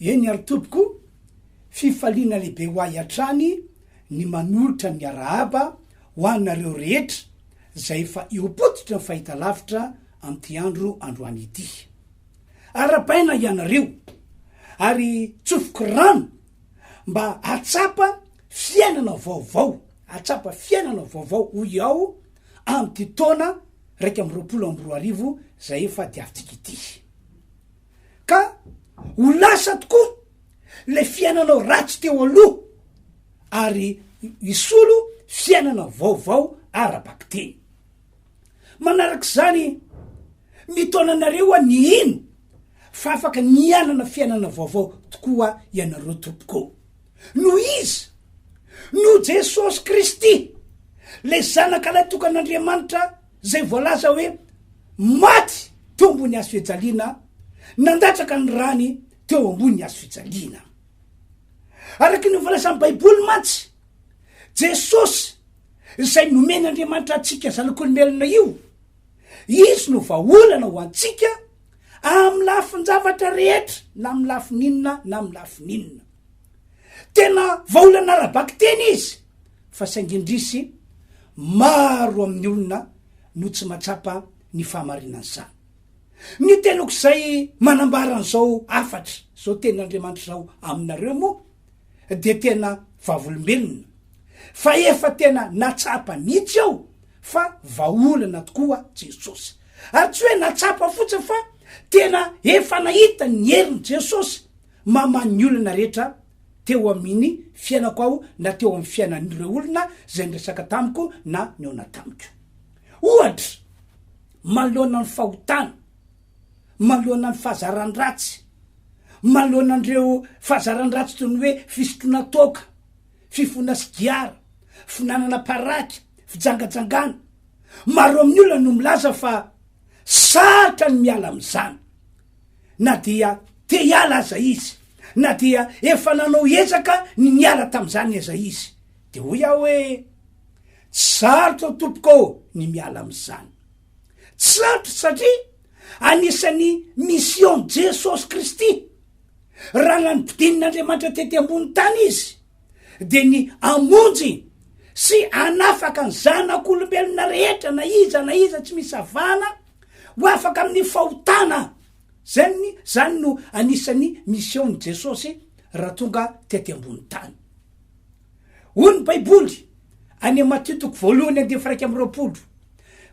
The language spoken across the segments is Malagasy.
Eny ary tompoko, fifaliana lehibe ho ahy hatrany ny manolotra ny arahaba ho anareo rehetra izay efa eo am-pototry ny fahitalavitra amin'ity andro androany ity. Arabaina ianareo ary tsofoky rano mba hahatsapa fiainana vaovao, hahatsapa fiainana vaovao hoy aho amin'ity taona iraika amby roapolo amby roa arivo izay efa diavintsika ity. ka ho lasa tokoa le fiainanao ratsy teo aloha ary hisolo fiainana vaovao ara-bakiteny. Manarak'izany, mitaona anareo hoa ny hino fa afaka ny hianana fiainana vaovao tokoa ianareo tompoko. Noho iza? Noho Jesosy Kristy, le Zanakalahy tokan'Andriamanitra, Izay voalaza hoe maty teo ambony hazo fijaliana nandatsaka ny rany teo ambony hazo fijaliana. Araka ny voalazan'ny Baiboly mantsy, Jesosy izay nomen'Andriamanitra antsika zanak'olombelona io, izy no vahaolana ho antsika amin'ny lafin-javatra rehetra na amin'ny lafiny inona na amin'ny lafiny inona. Tena vahaolana ara-bakiteny izy fa saingy indrisy maro amin'ny olona no tsy mahatsapa ny fahamarinan'izany. Ny teniko izay manambara an'izao hafatra, izao tenin'Andriamanitra izao aminareo moa dia tena vavolombelona fa efa tena natsapa mihitsy aho fa vahaolana tokoa Jesosy. Ary tsy hoe natsapa fotsiny fa tena efa nahita ny herin'i Jesosy mamaha ny olana rehetra teo amin'ny fiainako aho na teo amin'ny fiainan'ireo olona izay niresaka tamiko na nihaona tamiko. Ohatra, manoloana ny fahotana, manoloana ny fahazaran-dratsy, manoloana an'ireo fahazaran-dratsy toy ny hoe fisotroana toaka, fifoana sigara, finanana paraky, fijangajangana. Maro amin'ny olona no milaza fa sarotra ny miala amin'izany. na dia te hiala aza izy, na dia efa nanao ezaka ny niala tamin'izany aza izy. Dia hoy aho hoe, Tsy sarotra ô Tompoko ô ny miala amin'izany. Tsy sarotra satria anisan'ny mission-n'i Jesosy Kristy, raha nanodinin'Andriamanitra tety ambony tany Izy, dia ny hamonjy sy hanafaka ny zanak'olombelona rehetra na iza na iza tsy misy avahana, Ho afaka amin'ny fahotana. Zay ny, zany no anisan'ny mission-n'i Jesosy raha tonga tety ambony tany. Hoy ny Baiboly any Matio toko voalohany andiany faha-iraika amby roapolo,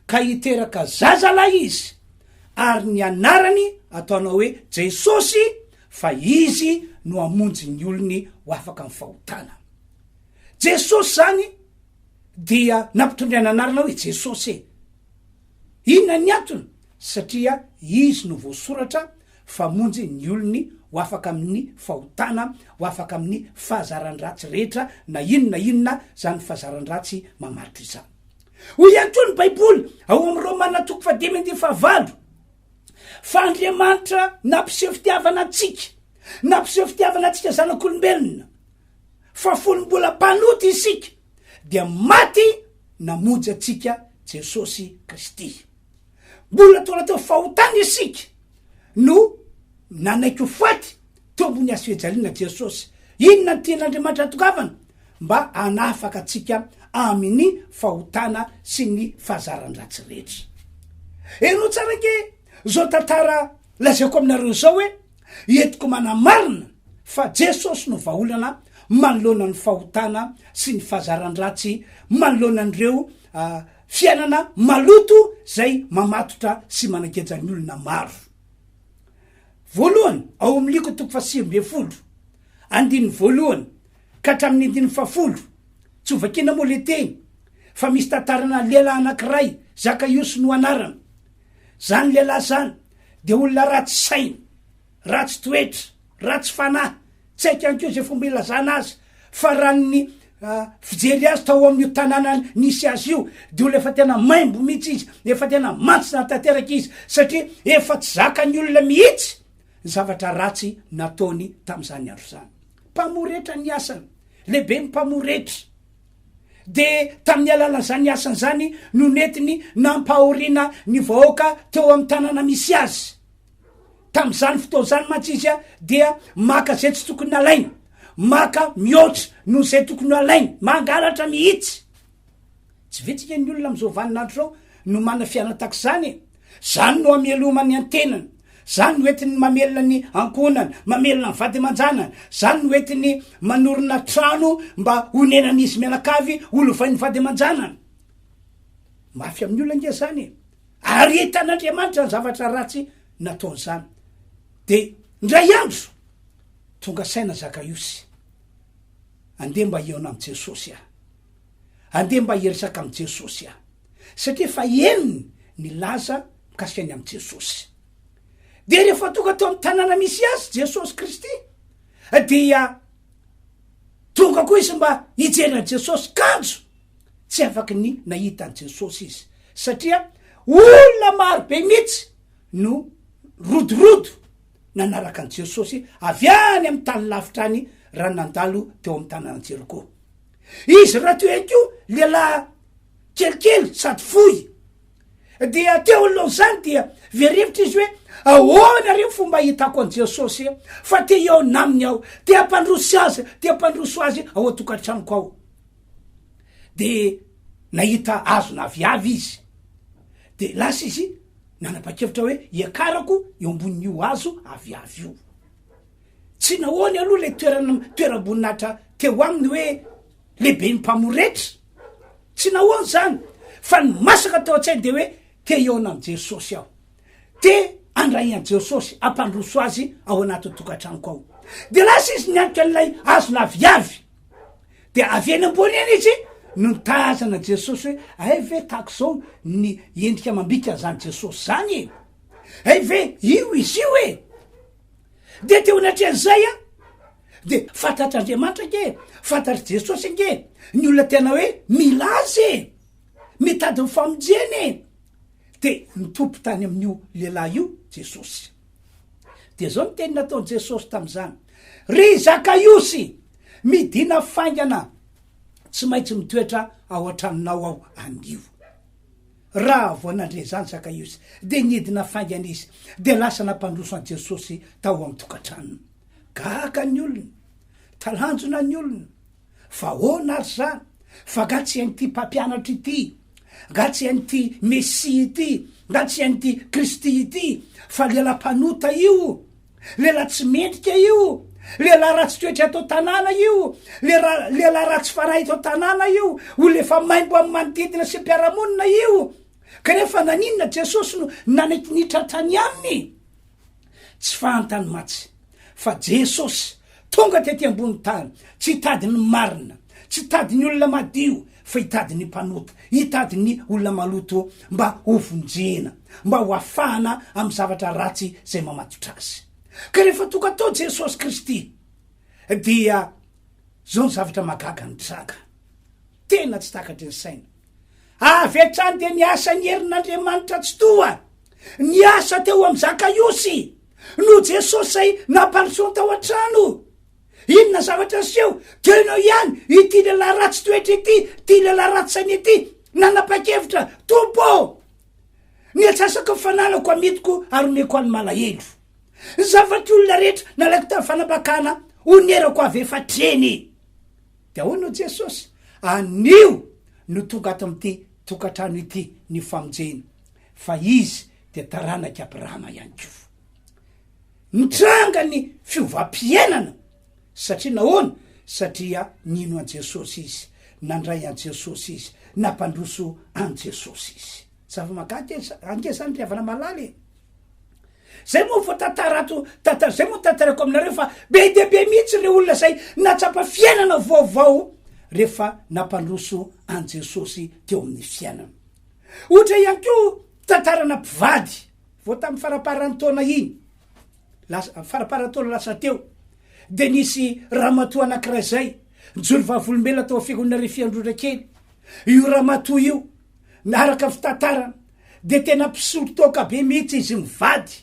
Ka hiteraka zazalahy izy, ary ny anarany ataonao hoe Jesosy, fa izy no hamonjy ny olony ho afaka amin'ny fahotana. Jesosy zany dia nampitondraina anarana hoe Jesosy e. Inona ny antony? Satria izy no voasoratra fa monjy ny olony ho afaka amin'ny fahotana, ho afaka amin'ny fahazaran-dratsy rehetra na inona na inona izany fahazaran-dratsy mamaritra izany. Hoy ihany koa ny Baiboly ao amin'ny Romana toko fahadimy andininy fahavalo fa Andriamanitra nampiseho fitiavana antsika, nampiseho fitiavana antsika zanak'olombelona. fa fony mbola mpanota isika dia maty namonjy antsika Jesosy Kristy. Mbola tola teo fahotana isika no nanaiky ho faty teo ambony hazo fijaliana Jesosy. Inona no tian'Andriamanitra atongavana? Mba hanafaka antsika amin'ny fahotana sy ny fahazaran-dratsy rehetra. Heno tsara ange izao tantara lazaiko aminareo izao hoe. Entiko manamarina fa Jesosy no vahaolana manoloana ny fahotana sy ny fahazaran-dratsy manoloana an'ireo fiainana maloto izay mamatotra sy manageja ny olona maro. Voalohany, ao amin'ny Liko toko fahasivy ambin'ny folo, andininy voalohany ka hatramin'ny andininy fahafolo. Tsy ho vakiana moa ilay teny fa misy tantarana lehilahy anankiray Zakaiosy no anarany. Zany lehilahy zany dia olona ratsy saina, ratsy toetra, ratsy fanahy, tsy haiko ihany koa izay fomba ilazana azy fa raha ny fijery azy tao amin'io tanàna nisy azy io dia olona efa tena maimbo mihitsy izy, efa tena mantsina tanteraka izy satria efa tsy zakan'ny olona mihitsy ny zavatra ratsy nataony tamin'izany andro izany. Mpamoretra ny asany, lehiben'ny mpamoretra. dia tamin'ny alalan'izany asany izany no nentiny nampahoriana ny vahoaka teo amin'ny tanàna misy azy. Tamin'izany fotoana izany mantsy izy dia maka izay tsy tokony halaina, maka mihoatra noho izay tokony halaina, mangalatra mihitsy. Tsy vitsy ange ny olona amin'izao vaninandro izao no manana fiainana tahaka izany e! Izany no hamelomany an-tenany. Zany no entiny mamelona ny ankohonany, mamelona ny vady aman-janany. Zany no entiny manorina trano mba honenan'izy mianakavy, holovain'ny vady aman-janany. Mafy amin'ny olona ange zany e! Ary hitan'Andriamanitra ny zavatra ratsy nataony zany. Dia ndray andro, tonga saina Zakaiosy. Andeha mba hihaona amin'i Jesosy aho. Andeha mba hiresaka amin'i Jesosy aho. satria efa henony ny laza mikasika ny amin'i Jesosy. Dia rehefa tonga tao amin'ny tanàna misy azy Jesosy Kristy dia tonga koa izy mba hijery an'i Jesosy kanjo tsy afaky ny nahita an'i Jesosy izy satria olona maro be mihitsy no rodorodo nanaraka an'i Jesosy avy any amin'ny tany lavitra any raha nandalo teo amin'ny tanàna Jeriko. Izy raha toy ihany koa lehilahy kelikely sady fohy. Dia teo alohan'izany dia very hevitra izy hoe ahoana re ny fomba hitako an'i Jesosy e fa te eo naminy aho, te hampandroso azy, te hampandroso azy ao an-tokantranoko ao. Dia nahita azona aviavy izy. Dia lasa izy nanapa-kevitra hoe hiakarako eo ambonin'io azo aviavy io. Tsy nahoany aloha ilay toeram-boninahitra teo aminy hoe Lehibe ny mpamoretra. Tsy nahoana izany fa ny masaka teo an-tsainy dia hoe te hihaona amin'i Jesosy aho. Te handray an'i Jesosy hampandroso azy ao anatin'ny tokantranoko ao. Dia lasa izy nianika an'ilay hazo laviavy. Dia avy eny ambony eny izy no nitazana an'i Jesosy hoe hay ve tahaka izao ny endrika amam-bika an'izany Jesosy izany e. Hay ve io izy io e. Dia teo anatrehan'izay an. Dia fantatr'Andriamanitra ange e, fantatr'i Jesosy ange ny olona tena hoe mila azy e, mitady ny famonjena e. Dia nitoby tany amin'io lehilahy io Jesosy. Dia izao ny teny nataon'i Jesosy tamin'izany. Ry Zakaiosy, midina faingana, tsy maintsy mitoetra ao an-tranonao aho anio. Raha vao nandre izany Zakaiosy, dia nidina faingana izy, dia lasa nampandroso an'i Jesosy tao amin'ny tokantranony. Gaga ny olona, talanjona ny olona, fa ahoana ary izany, fa nga tsy hain'ity mpampianatra ity, nga tsy hain'ity Mesia ity, nga tsy hain'ity Kristy ity, fa lehilahy mpanota io, lehilahy tsy mendrika io, lehilahy ratsy toetra eto an-tanàna io, lehilahy ratsy fanahy eto an-tanàna io, olona efa maimbo amin'ny manodidina sy ny mpiara-monina io, kanefa naninona Jesosy no nanaiky nitratra ny aminy? Tsy fahantany matsy fa Jesosy tonga tety ambony tany tsy hitady ny marina, tsy hitady ny olona madio fa hitady ny mpanota, hitady ny olona maloto mba ho vonjena, mba ho afahana amin'ny zavatra ratsy izay mamatotra azy. Ka rehefa tonga tao Jesosy Kristy dia izao ny zavatra mahagaga nitranga. Tena tsy takatry ny saina. Avy hatrany dia niasa ny herin'Andriamanitra Tsitoha. Niasa teo amin'ny Zakaiosy. No Jesosy izay nampandrosoany tao an-trano. Inona zavatra niseho? Teo no ihany ity lehilahy ratsy toetra ity, ity lehilahy ratsy saina ity. Nanapa-kevitra, Tompo, ny atsasako ny fananako amitiko ary omeko an'ny malahelo. Ny zavatry olona rehetra nalaiko tamin'ny fanapakana, onerako avy efa hatreny. Dia hoy no Jesosy, Anio no tonga ato amin'ity tokantrano ity ny famonjena, fa izy dia taranak'i Abrahama ihany koa. Nitranga ny fiovam-piainana. Satria nahoana? Satria nino an'i Jesosy izy, nandray an'i Jesosy izy, nampandroso an'i Jesosy izy. Zava-mahagaga e, ange zany ry havana malala e. Zay moa vao tantara ato, tantara zay moa tantarako aminareo fa be dia be mihitsy ireo olona izay nahatsapa fiainana vaovao rehefa nampandroso an'i Jesosy teo amin'ny fiainana. Ohatra ihany koa tantarana mpivady vao tamin'ny faraparan'ny taona iny, lasa faraparan'ny taona lasa teo dia nisy ramatoa anankiray izay nijoro vavolombelona tao amin'ny fiangonana Refiandrora kely. Io ramatoa io na araka fitantarana dia tena mpisolo toaka be mihitsy izy mivady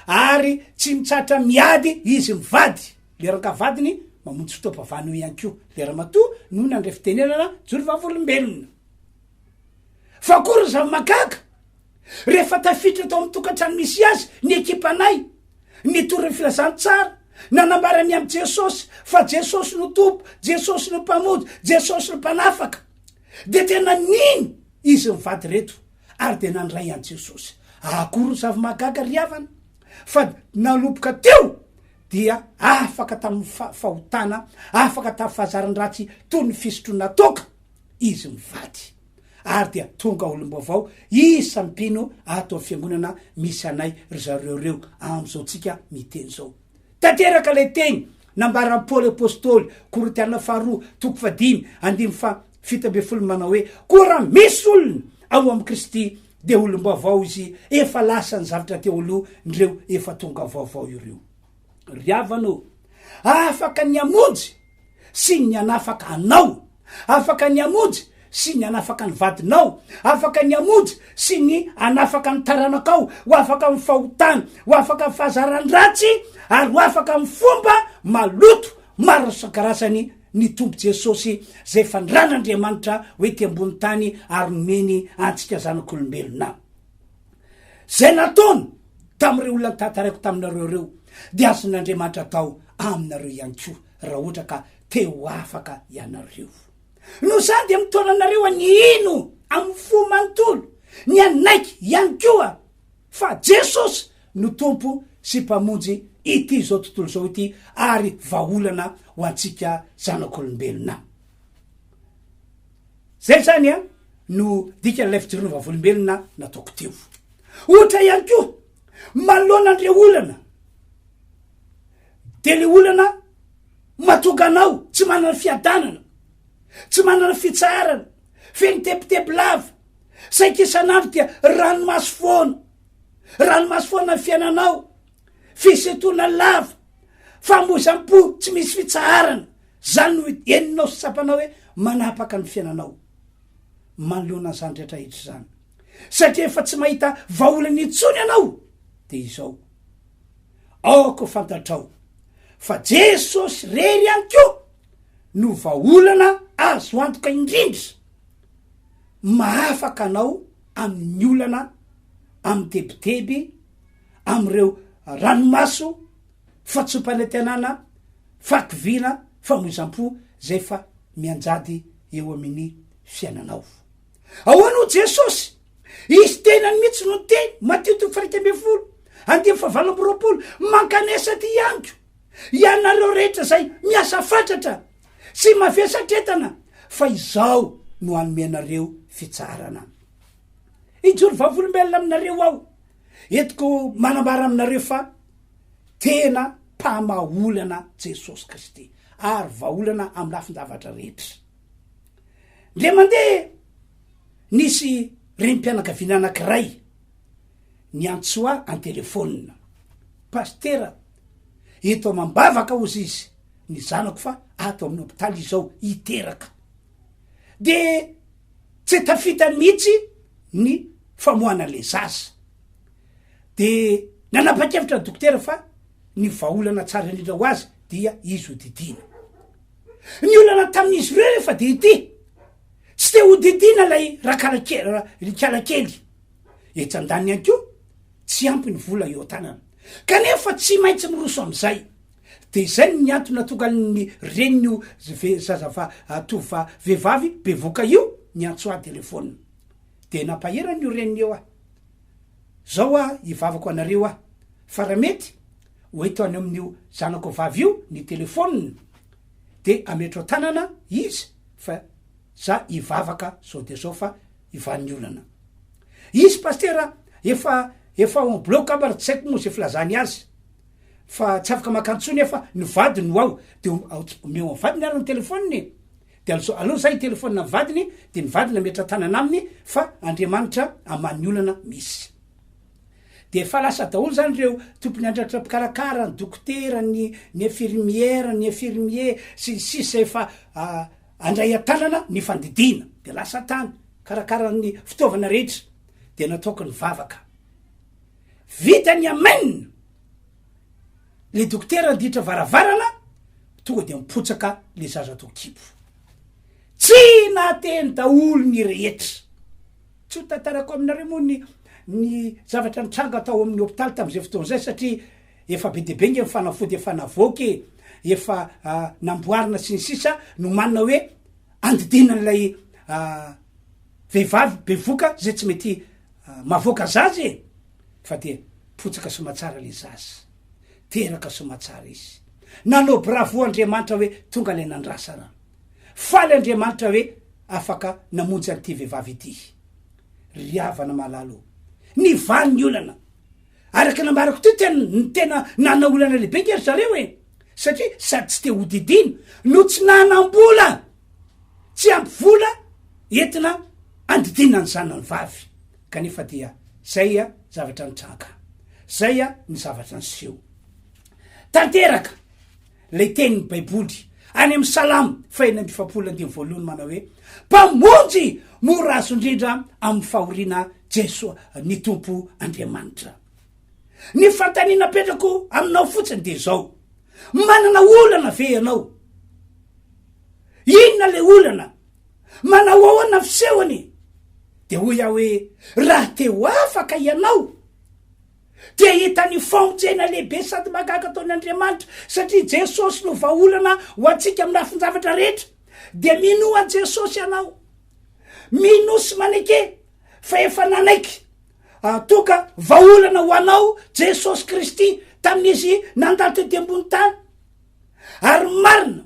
ary tsy mitsatra miady izy mivady le rankavadiny mamonjy fotoam-pavana eo ihany koa le ramatoa no nandray fitenenana jory vavolombelona fa koa ry zava-makaka rehefa tafitra tao amin'ny tokantrano misy azy ny ekipanay nitory ny filazantsara nanambara ny amin'i jesosy fa jesosy no tompo jesosy no mpamonjy jesosy no mpanafaka Dia tena nino izy mivady ireto ary dia nandray an'i Jesosy. Akory ny zava-mahagaga ry havana, fa nanomboka teo dia afaka tamin'ny fa- fahotana, afaka tamin'ny fahazaran-dratsy toy ny fisotroana toaka izy mivady. Ary dia tonga olom-baovao isan'ny mpino ato amin'ny fiangonana misy anay ry zareo ireo, amin'izao tsika miteny izao. Tanteraka ilay teny nambaran'i Paoly Apostoly, Korintiana faharoa, toko fahadimy andininy faha fito ambin'ny folo manao hoe, Koa raha misy olona ao amin'i Kristy, dia olom-baovao izy, efa lasa ny zavatra teo aloha, ndreo efa tonga vaovao ireo. Ry havana ô, afaka ny hamonjy sy ny hanafaka anao, afaka ny hamonjy sy ny hanafaka ny vadinao, afaka ny hamonjy sy ny hanafaka ny taranakao, ho afaka amin'ny fahotana, ho afaka amin'ny fahazarany ratsy, ary ho afaka amin'ny fomba maloto maro isan-karazany ny Tompo Jesosy izay fanirana Andriamanitra ho ety ambony tany ary nomeny antsika zanak'olombelona. Izay nataony tamin'ireo olona notantaraiko taminareo ireo dia azon'Andriamanitra atao aminareo ihany koa raha ohatra ka te ho afaka ianareo. Noho izany dia mitaona anareo any hino amin'ny fo manontolo, ny hanaiky ihany koa fa Jesosy no Tompo sy Mpamonjy ity izao tontolo izao ity ary vahaolana ho antsika zanak'olombelona. Zay zany an no dikan'ilay fijoroana vavolombelona nataoko teo. Ohatra ihany koa, manoloana an'ireo olana, dia le olana matonga anao tsy manana fiadanana, tsy manana fitsaharana, feno tebiteby lava, saika isan'andro dia ranomaso foana, ranomaso foana ny fiainanao, Fisintonana lava, famoizam-po tsy misy fitsaharana, izany no henonao sy tsapanao hoe manapaka ny fiainanao manoloana izany rehetra hita izany. Satria efa tsy mahita vahaolana intsony ianao, dia izao, aoka ho fantatrao fa Jesosy irery ihany koa no vahaolana azo antoka indrindra mahafaka anao amin'ny olana amin'ny tebiteby, amin'ireo ranomaso, fahatsoam-panantenana, fahakiviana, famoizam-po izay efa mianjady eo amin'ny fiainanao. Ahoana ho Jesosy? Izy tenany mihitsy no niteny, Matio toko fahaika ambin'ny folo, andinin'ny fahavalo amby roapolo, mankanesa aty amiko, ianareo rehetra izay miasa fatratra sy mavesatretana, fa izaho no hanome anareo fitsaharana. Hijoro vavolombelona aminareo aho, Entiko manambara aminareo fa tena mpamaha olana Jesosy Kristy ary vahaolana amin'ny lafin-javatra rehetra. Ndre mandeha nisy renim-pianakaviana anankiray niantso ahy an-telefaonina. Pasitera, eto amam-bavaka hozy izy ny zanako fa ato amin'ny hopitaly izy izao hiteraka. Dia Tsy tafita mihitsy ny famoahana ilay zaza. Dia nanapa-kevitra ny dokotera fa ny vahaolana tsara indrindra ho azy dia izy hodidiana. Ny olana tamin'izy ireo efa dia ity, tsy te hodidiana ilay rakalakely kely. Etsy an-daniny ihany koa, tsy ampy ny vola eo an-tanana, kanefa tsy maintsy miroso amin'izay. De izay ny antony nahatonga an'ny renin'io zazava tovova vehivavy bevoka io niantso ahy telephone. De nampahery an'io reniny io aho. Zao hoa hivavako anareo aho fa raha mety ho eto any amin'io zanako vavy io ny telephone de ametro an-tanana izy fa za hivavaka zao de zao fa ivan'ny olana. Izy Pasitera efa efa on bloc angamba raha tsy haiko moa ze filazany azy. fa tsy afaka maka ntsony aho fa ny vadiny no ao de omeo an'ny vadiny ary ny telefoniny e de alzo aleo za hitelefonina amin'ny vadiny de ny vadiny ametra tanana aminy fa andriamanitra aman'ny olana misy de efa lasa daholo zany ireo tompony andratra mpikarakara ny dokotera ny ny infirmière ny infirmier sy ny sisa efa ah, andray an-tanana ny fandidiana de lasa tany karakaran'ny fitaovana rehetra de nataoko ny vavaka Vita ny amen! Le dokotera anditra varavarana tonga de mipotsaka le zaza tao kibo. Tsy nahateny daholo ny rehetra. Tsy ho tantarako aminareo moa ny ny zavatra nitranga tao amin'ny hopitaly tamin'izay fotoana izay satria efa be dia be nge ny fanafody efa navoaka e, efa namboarina sy ny sisa, nomanina hoe andidiana an'ilay vehivavy bevoka izay tsy mety Mavoaka zaza e! Fa dia potsaka somatsara le zaza. Teraka somatsara izy. Nanao bravo Andriamanitra hoe tonga ilay nandrasa ra. Faly Andriamanitra hoe afaka namonjy an'ity vehivavy ity. Ry havana malala o! Nivaly ny olana. Araka ny nambarako teo dia ny tena nanana olana lehibe ange ry zareo e! Satria sady tsy te hodidiana no tsy nanam-bola! Tsy ampy vola entina andidiana ny zanany vavy kanefa dia zay a zavatra nitranga zay a ny zavatra niseho tanteraka lay tenin'ny baiboly any amin'ny salamo fahena amby efapolo andininy voalohany manao hoe mpamonjy mora azo indrindra amin'ny fahoriana jesoa ny tompo andriamanitra ny fantaniana apetrako aminao fotsiny dia zao Manana olana ve ianao? Inona ilay olana? Manao ahoana ny fisehony? Dia hoy aho hoe, raha te ho afaka ianao, dia hita ny famonjena lehibe sady mahagaga ataon' Andriamanitra, satria Jesosy no vahaolana ho antsika amin'ny lafin-javatra rehetra. Dia minoa an'i Jesosy ianao. Minoa sy maneke fa efa nanaiky. Toka vahaolana ho anao Jesosy Kristy tamin'izy nandalo tety ambony tany. Ary marina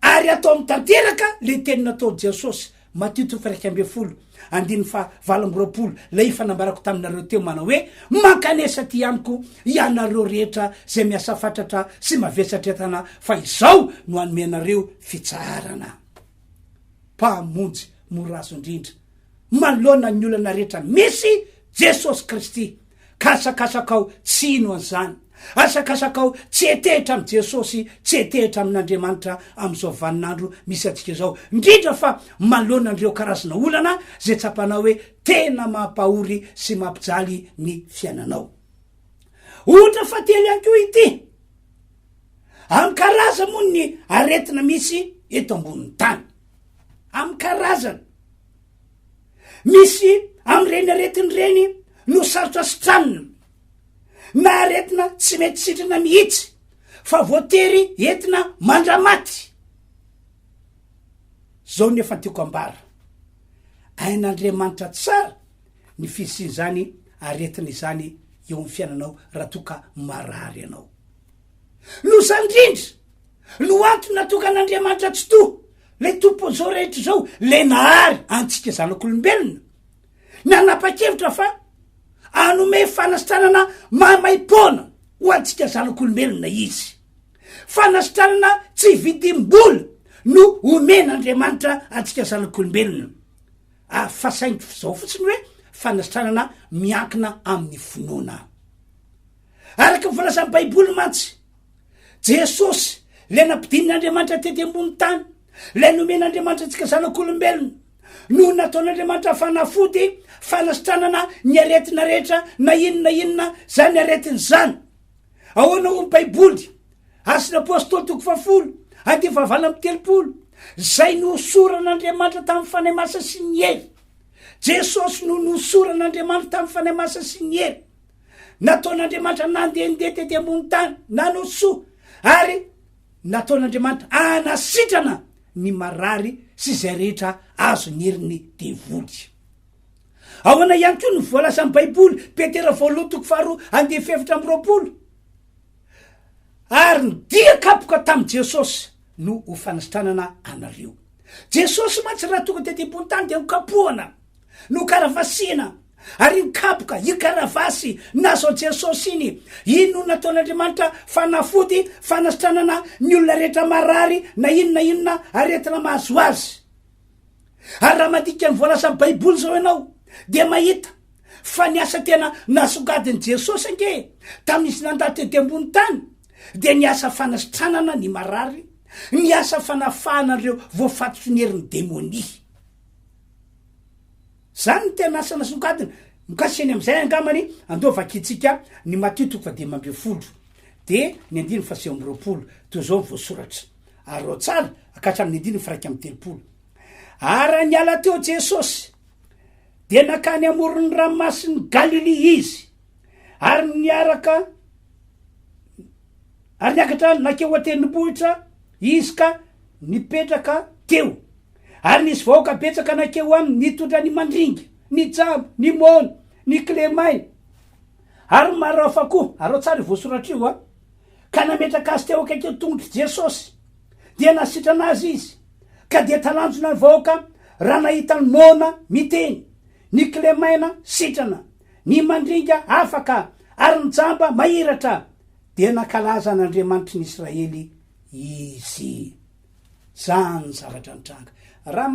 ary atao amin'ny tanteraka le teny nataon'i Jesosy, Matio toko fairaika ambin'ny folo andininy faha valo amby roapolo, ilay efa nambarako taminareo teo manao hoe, Mankanesa aty amiko ianareo rehetra izay miasa fatratra sy mavesatr-entana fa izao no hanome anareo fitsaharana. Mpamonjy mora azo indrindra manoloana ny olana rehetra misy Jesosy Kristy, ka asakasakao tsy hino an'izany. Asakasakao tsy hetehitra amin'i Jesosy, tsy hetehitra amin'Andriamanitra amin'izao vaninandro misy antsika izao, indrindra fa manoloana an'ireo karazana olana izay tsapanao hoe tena mampahory sy mampijaly ny fiainanao. Ohatra fahatelo ihany koa ity, amin'ny karazany moa ny aretina misy eto ambonin'ny tany. Amin'ny karazany. Misy amin'ireny aretina ireny no sarotra sitranina na aretina tsy mety sitrana mihitsy fa voatery entina mandramaty. Zao ny efa tiako ambara. Hain'Andriamanitra tsara ny fisian'izany aretina izany eo amin'ny fiainanao raha toa ka marary ianao. Loza indrindra no antony natokan'Andriamanitra Tsitoha, ilay Tompon'izao rehetra izao, ilay nahary antsika zanak'olombelona, nanapa-kevitra fa hanome fanasitranana maimaim-poana ho antsika zanak'olombelona izy. Fanasitranana tsy vidim-bola no omen'Andriamanitra antsika zanak'olombelona. Ah, fa saingy izao fotsiny hoe fanasitranana miankina amin'ny finoana. Araka ny filazan'ny Baiboly mantsy, Jesosy, ilay nampidinin'Andriamanitra tety ambony tany, ilay nomen'Andriamanitra antsika zanak'olombelona, no nataon'Andriamanitra fanafody fanasitranana ny aretina rehetra na inona inona izany aretina izany. Ahoana ho ny Baiboly? Asin'ny Apôstôly toko fahafolo, andiany fahavalo amin'ny telopolo, izay nohosoran'Andriamanitra tamin'ny fanahy masina sy ny hery. Jesosy no nohosoran'Andriamanitra tamin'ny fanahy masina sy ny hery. Nataon'Andriamanitra nandehandeha tety ambony tany nanao soa ary nataon'Andriamanitra anasitrana ny marary sy izay rehetra azo ny herin'ny devoly. Ahoana ihany koa no voalazan'ny Baiboly, Petera voalohany toko faharoa andeha fefitra amin'ny roapolo. Ary ny dia kapoka tamin'i Jesosy no ho fanisitranana anareo. Jesosy mantsy raha tonga tety ambony tany dia nokapohana, nokaravasiana, ary nikapoka iny karavasy nazao Jesosy iny. Iny no nataon'Andriamanitra fanafody fanasitranana ny olona rehetra marary na inona inona aretina mahazo azy. Ary raha mandika ny voalazan'ny Baiboly izao ianao, dia mahita fa ny asa tena nasongadin'i Jesosy ange tamin'izy nandà tety ambony tany, dia ny asa fanasitranana ny marary, ny asa fanafahana an'ireo voafatotry ny herin'ny demonia. Izany ny tena asa nasongadina. Mikasika ny amin'izay angambany, andao vakintsika ny Matio toko fahadimy ambin'ny folo, dia ny andininy fahasivy amby roapolo. Toy izao ny voasoratra. Arao tsara ka hatramin'ny andininy firaika amby telopolo. Ary niala teo Jesosy, dia nankany amoron'ny ranomasin'i Galilia izy, ary niaraka ary niakatra nankeo an-tendrombohitra izy ka nipetraka teo. Ary nisy vahoaka betsaka nankeo aminy nitondra ny mandringa, ny jamba, ny mona, ny kilemaina, ary marafa koa. Arao tsara io voasoratra io a. ka nametraka azy teo akaikin'ny tongotr'i Jesosy. Dia nasitrana azy izy, ka dia talanjona ny vahoaka raha nahita an'i Mona miteny, ny kilemaina sitrana, ny mandringa afaka, ary ny jamba mahiratra. Dia nankalaza an'Andriamanitry ny Israely izy. Izany ny zavatra nitranga. Raha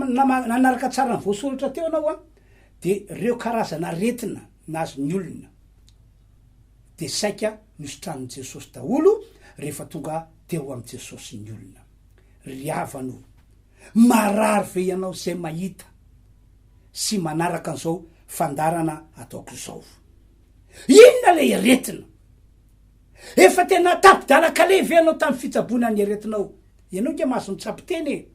nanaraka tsara ny voasoratra teo ianao, dia ireo karazana aretina nahazo ny olona, dia saika nositranin'i Jesosy daholo rehefa tonga teo amin'i Jesosy ny olona. Ry havana o, marary ve ianao izay mahita sy manaraka an'izao fandaharana ataoko izao? Inona ilay aretina? Efa tena tapi-dalan-kaleha ve ianao tamin'ny fitsaboana ny aretinao? Ianao nge mahazo mitsabo tena e!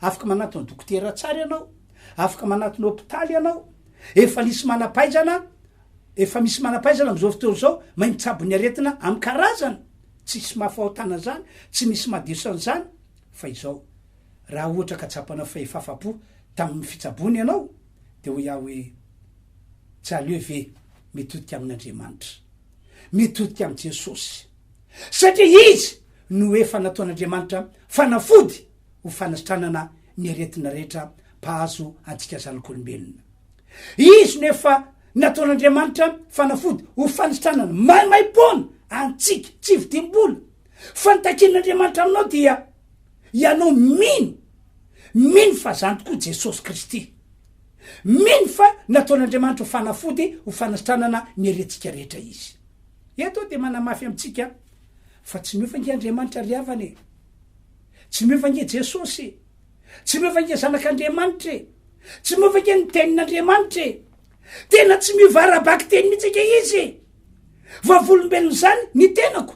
Afaka manantona dokotera tsara ianao, afaka manantona hopitaly ianao, efa nisy manampahaizana, efa misy manampahaizana amin'izao fotoana izao mahay mitsabo ny aretina amin'ny karazany, tsisy mahafahotana an'izany, tsy misy mahadeso an'izany, fa izao, raha ohatra ka tsapanao fa efa afa-po tamin'ny fitsaboana ianao, dia hoy aho hoe, Tsy aleo ve mitodika amin'Andriamanitra, mitodika amin'i Jesosy. satria izy no efa nataon'Andriamanitra fanafody ho fanasitranana ny aretina rehetra mpahazo antsika zanak'olombelona. Izy no efa nataon'Andriamanitra fanafody ho fanisitranana maimaim-poana antsika tsy vidim-bola. Fa ny takian'Andriamanitra aminao dia ianao mino, mino fa zany tokoa Jesosy Kristy. Mino fa nataon'Andriamanitra ho fanafody ho fanasitranana ny aretintsika rehetra izy. Eto aho dia manamafy amintsika fa tsy miofa ange Andriamanitra ry havana e! Tsy miofa ange Jesosy e! Tsy miofa ange Zanak'Andriamanitra e! Tsy miofa ange ny Tenin'Andriamanitra e! Tena tsy miova ara-bakiteny mihitsy ange Izy e! Vavolombelona izany ny tenako.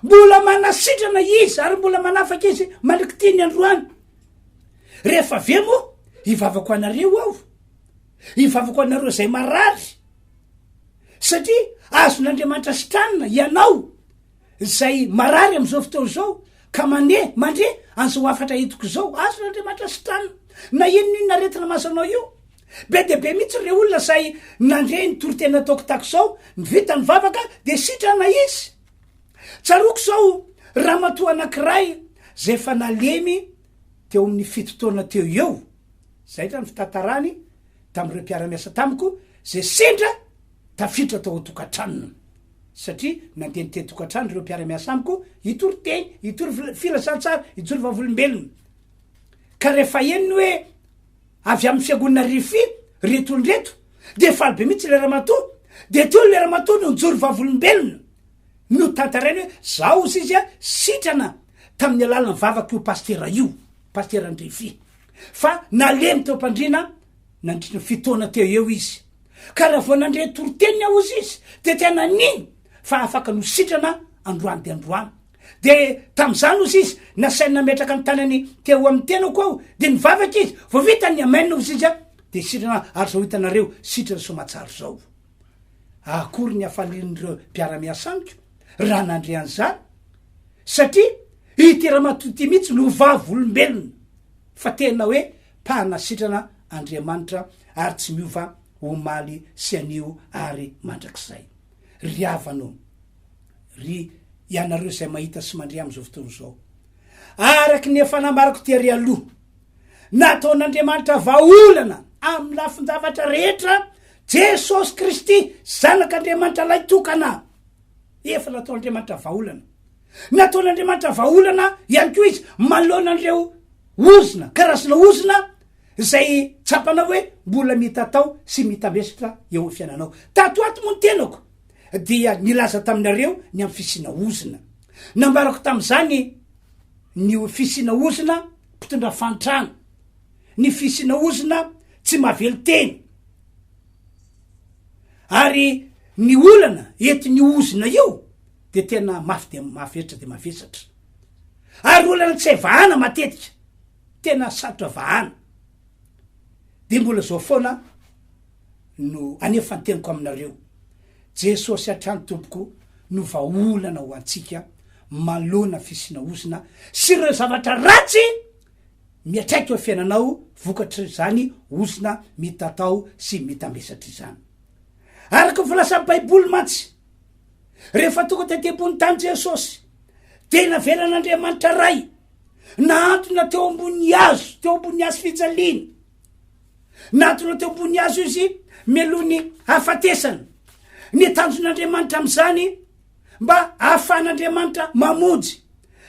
Mbola manasitrana Izy ary mbola manafaka Izy mandrak'ity ny androany. Rehefa avy eo moa, hivavaka ho anareo aho. Hivavaka ho anareo izay marary. Satria azon'Andriamanitra sitranina ianao izay marary amin'izao fotoana izao ka mane mandre an'izao hafatra entiko izao. Azon'Andriamanitra sitranina na inon'inona aretina mahazo anao io. Be dia be mihitsy ireo olona izay nandre ny toriteny nataoko tahaka izao, ny vita ny vavaka dia sitrana izy. Tsaroako izao ramatoa anankiray izay efa nalemy teo amin'ny fito taona teo eo, izay angamba ny fitantarany tamin'ireo mpiara-miasa tamiko izay sendra tafiditra tao an-tokantranony, satria nandeha nitety tokantrano ireo mpiara-miasa amiko hitory teny, hitory filazantsara, hitory vavolombelona. Ka rehefa henony hoe avy amin'ny fiangonana Rifi ireto olona ireto, dia faly be mihitsy ilay ramatoa, dia teo ilay ramatoa no nijoro vavolombelona. notantarainy hoe zao ozy izy sitrana tamin'ny alalan'ny vavak'io pasitera io, pasitera Andrefy, fa nalemy teo am-pandriana nandritry ny fito taona teo eo izy. Ka raha vao nandre toriteniny aho ozy izy dia tena nino fa afaka nositrana androany dia androany. Dia tamin'izany ozy izy nasainy nametraka ny tanany teo amin'ny tenako aho dia nivavaka izy, vao vita ny amen ozy izy dia sitrana ary zao hitanareo sitrany soamatsara zao. Akory ny hafalian'ireo mpiara-miasa amiko raha nandre an'izany, satria ity ramatoa ity mihitsy no vavolombelona fa tena hoe mpanasitrana Andriamanitra ary tsy miova omaly sy anio ary mandrakizay. Ry havana ô! Ry ianareo izay mahita sy mandre amin'izao fotoana izao, araka ny efa nambarako tery aloha, nataon'Andriamanitra vahaolana amin'ny lafin-javatra rehetra Jesosy Kristy, Zanak'Andriamanitra Lahy tokana, efa nataon'Andriamanitra vahaolana. Nataon'Andriamanitra vahaolana ihany koa izy manoloana an'ireo ozona, karazana ozona izay tsapanao hoe mbola mitatao sy mitamesitra eo amin'ny fiainanao. Tato ato moa ny tenako dia nilaza taminareo ny amin'ny fisiana ozona. Nambarako tamin'izany ny fisiana ozona mpitondra fahantrana. ny fisiana ozona tsy mavelon-teny ary ny olana entin'io ozona io de tena mafy de mavesatra de mavesatra ary olana tsy hay vahana matetika tena sarotra vahana de mbola zao foana no anefa ny teniko aminareo jesosy hatrany tompoko no vahaolana ho antsika malona fisina ozona sy ireo zavatra ratsy Miantraika eo fiainanao vokatr'izany ozona mitatao sy mitambesatra izany. Araka ny filasan'ny Baiboly mantsy, rehefa tonga tety ambony tany Jesosy, dia navelan'Andriamanitra Ray nahantona teo ambony hazo, teo ambony hazo fijaliana. Nahantona teo ambony hazo izy mialoha ny hafatesana. Ny tanjon'Andriamanitra amin'izany mba ahafahan'Andriamanitra mamonjy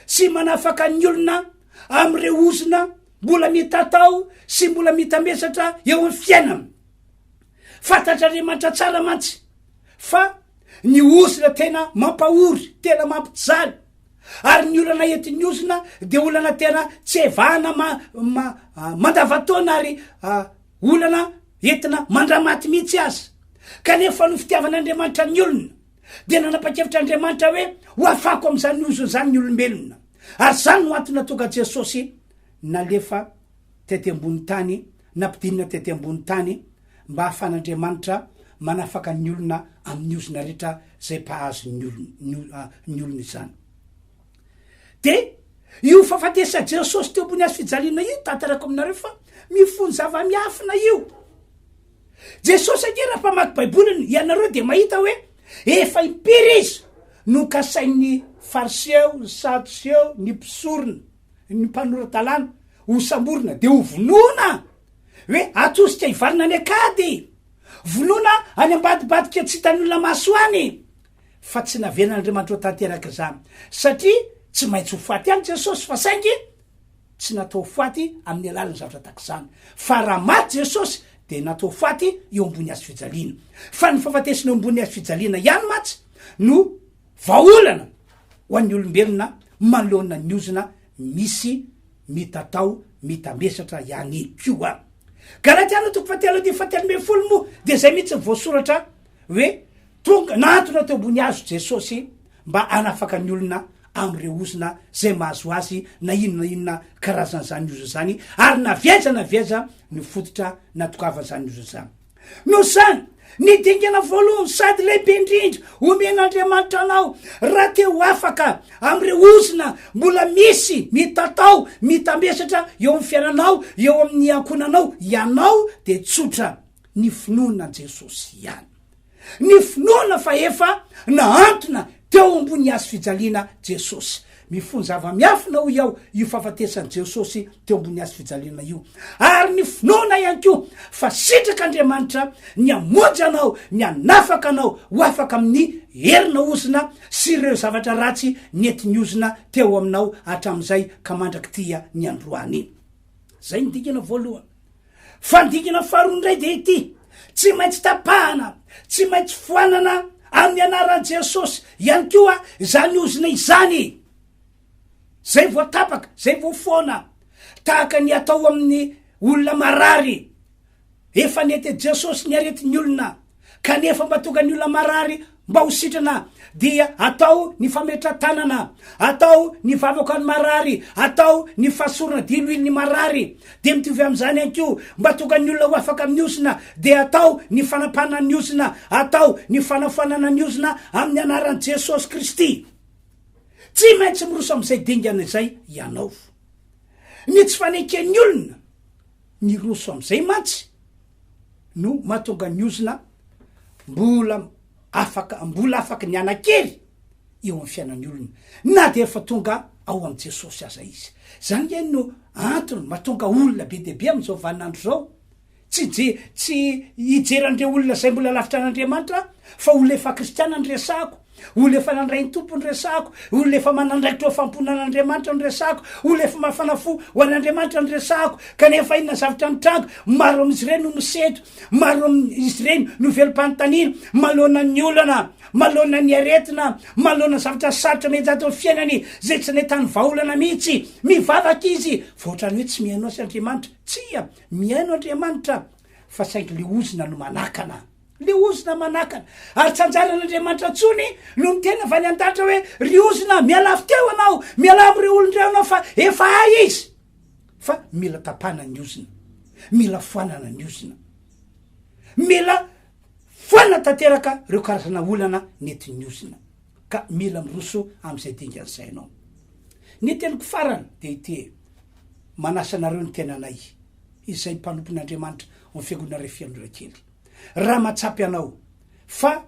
sy manafaka ny olona amin'ireo ozona mbola mitatao sy mbola mitambesatra eo amin'ny fiainana. Fantatr'Andriamanitra tsara mantsy fa ny ozona tena mampahory, tena mampijaly, ary ny olana entin'ny ozona dia olana tena tsy evahana mandavataona ary ah, olana entina mandramaty mihitsy aza. Kanefa noho fitiavan'Andriamanitra ny olona, dia nanapa-kevitra Andriamanitra hoe hoafako amin'izany ozona izany ny olombelona. Ary izany no antony natonga Jesosy nalefa tety ambony tany, nampidinina tety ambony tany mba hahafan'Andriamanitra manafaka ny olona amin'ny ozona rehetra izay mpahazo ny olona, ny olona izany. Dia io fahafatesa Jesosy teo ambony hazo fijaliana io, tantarako aminareo fa mifono zava-miafina io. Jesosy ange raha mpamaky baiboly ianareo dia mahita hoe efa impiry izy no kasain'ny fariseo, ny sadoseo, ny mpisorona, ny mpanora-dalàna ho samborina dia ho vonoina hoe atosika hivarina any akady, vonoina any ambadibadika tsy hitan'ny olona maso any fa tsy navelan'Andriamanitra ho tanteraka izany satria tsy maintsy ho faty ihany Jesosy fa saingy tsy natao faty amin'ny alalan'ny zavatra tahaka izany, fa raha maty Jesosy dia natao faty eo ambony hazo fijaliana, fa ny fahafatesana eo ambony hazo fijaliana ihany mantsy no vahaolana ho an'ny olombelona manoloana ny ozona misy mitatao mitamesatra ihany koa. Galatiana toko fahatelo andininy fahatelo ambin'ny folo moa dia izay mihitsy ny voasoratra hoe Tonga nahantona teo ambony hazo Jesosy mba hanafaka ny olona amin'ireo ozona izay mahazo azy na inona na inona karazan'izany ozona izany, ary na avy aiza na avy aiza no fototra natokavan'izany ozona izany. Noho izany, ny dingana voalohany sady lehibe indrindra omen'Andriamanitra anao, raha te ho afaka amin'ireo ozona mbola misy mitatao, mitamesatra eo amin'ny fiainanao, eo amin'ny ankohonanao, ianao dia tsotra, ny finoana an'i Jesosy ihany. ny finoana fa efa nahantona teo ambony hazo fijaliana Jesosy. Mifono zava-miafina, hoy aho, io fahafatesan'i Jesosy teo ambony hazo fijaliana io. Ary ny finoana ihany koa fa sitrak'Andriamanitra ny hamonjy anao, ny hanafaka anao ho afaka amin'ny herina ozona sy ireo zavatra ratsy nety niozona teo aminao hatramin'izay ka mandrakitia ny androany. Izay ny dingana voalohany. Fandikana faharoa indray dia ity, Tsy maintsy tapahana, tsy maintsy foanana amin'ny anaran'i Jesosy ihany koa izany ozona izany izay voatapaka, izay voafoana, tahaka ny atao amin'ny olona marary. Efa nety Jesosy ny aretin'ny olona kanefa mba tonga ny olona marary mba ho sitrana dia atao ny fametra-tanana, atao ny vavaka ny marary, atao ny fasorana diloilo ny marary, dia mitovy amin'izany ihany koa mba tonga ny olona ho afaka amin'ny ozona dia atao ny fanapahana ny ozona, atao ny fanafoanana ny ozona amin'ny anaran'i Jesosy Kristy. Tsy maintsy miroso amin'izay dingana izay ianao. Ny tsy fanenken'ny olona. Niroso amin'izay mantsy no mahatonga ny ozona mbola afaka mbola afaka ny hanan-kery eo amin'ny fiainan'ny olona na dia efa tonga ao amin'i Jesosy aza izy. Izany ange no antony mahatonga olona be dia be amin'izao vaninandro izao tsy je tsy hijery an'ireo olona izay mbola lavitra an'Andriamanitra aho fa olona efa kristiana no resahako. Olona efa nandray ny Tompo no resahako, olona efa manandraikitra ho fampona an'Andriamanitra no resahako, olona efa mafana fo ho an'Andriamanitra no resahako, kanefa inona zavatra nitranga? Maro amin'izy ireny no misedra, maro amin'izy ireny no velom-panontaniana, maloana ny olana, maloana ny aretina, maloana zavatra sarotra mety ato amin'ny fiainany izay tsy nahitany vahaolana mihitsy. Mivavaka izy fa ohatrany hoe tsy mihaino azy Andriamanitra. Tsia, mihaino Andriamanitra fa saingy ilay ozona no manakana. Ny ozona manakana. Ary tsy anjaran'Andriamanitra intsony no niteny avy any an-danitra hoe, Ry ozona, mialà avy teo ianao, mialà amin'ireo olon-dray anao, fa efa hay izy. Fa mila tapahana ny ozona, mila foanana ny ozona, mila foanana tanteraka ireo karazana olana nentin'ny ozona, ka mila miroso amin'izay dingan'ny sainao. Ny teniko farany dia ity, manasa anareo ny tenanay, izay mpanompon'Andriamanitra ao amin'ny Fiangonana Refianora Kely. raha matsapy anao fa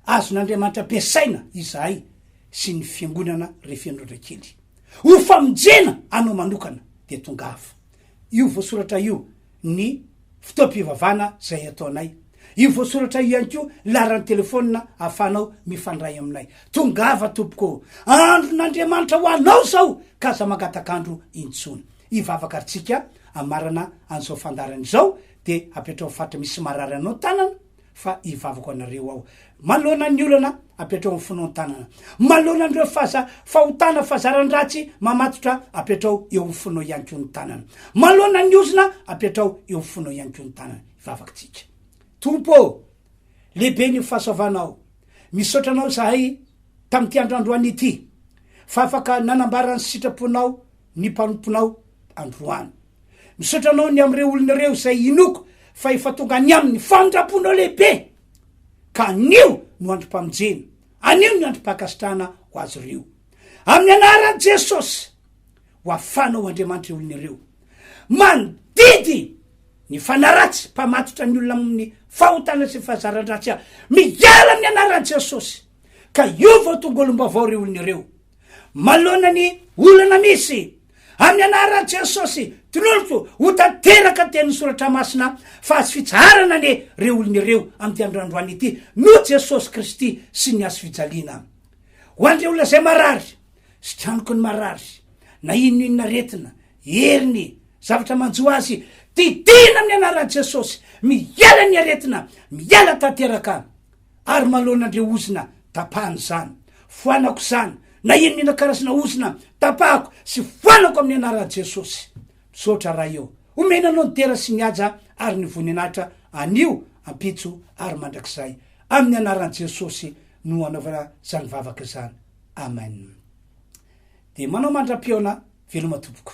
azon'Andriamanitra ampiasaina izahay sy ny fiangonana rehefiandraotra kely ho famonjena anao manokana dia tongava io voasoratra io ny fotoam-pivavana izay ataonay io voasoratra io ihany koa laran'ny telefona afanao mifandray aminay tongava tompoko andron'Andriamanitra ho anao zao ka aza mangatak'andro intsony hivavaka antsika amarana an'izao fandarana izao de apetraho fatra misy marary anao tanana fa ivavako anareo aho malona ny olana apetraho ny fonon tanana malona nreo faza fahotana fazarandratsy mamatotra apetraho eo ny fono iany ko ny tanana malona ny ozona apetraho eo ny fono iany ko ny tanana ivavaktsika tompo lehibe ny fahasoavanao misaotra anao zahay tamty andrandroany ity fa afaka nanambara ny sitraponao ny mpanomponao androany. Misaotra anao ny amin'ireo olona ireo izay inoako fa efa tonga any aminy famindram-ponao lehibe, ka anio no androm-pamonjena, anio ny androm-pankasitrahana ho azy ireo. Amin'ny anaran'i Jesosy, ho afanao Andriamanitra ireo olona ireo. Mandidy ny fanaratsy mpamatotra ny olona amin'ny fahotana sy fahazaran-dratsy aho. Miala amin'ny anaran'i Jesosy, ka hiova ho tonga olom-baovao ireo olona ireo. Manoloana ny olana misy, amin'ny anaran'i Jesosy, toloriko ho tanteraka tenin'ny Soratra Masina fa azo fitsaharana anie ireo olona ireo amin'ity andro androany ity noho Jesosy Kristy sy ny hazo fijaliana. Ho an'ireo olona izay marary, sikanoky ny marary, na inoninona aretina, heriny, zavatra manjo azy, didiana amin'ny anaran'i Jesosy, miala ny aretina, miala tanteraka. ary maloana ndre ozona tapahana izany foanako izany na inona inona karazana ozona tapahako sy foanako amin'ny anaran'i Jesosy misaotra Ray ô omena anao ny dera sy ny haja ary ny voninahitra anio ampitso ary mandrakizay amin'ny anaran'i Jesosy no anaovana izany vavaka izany amen dia manao mandra-pihaona veloma tompoko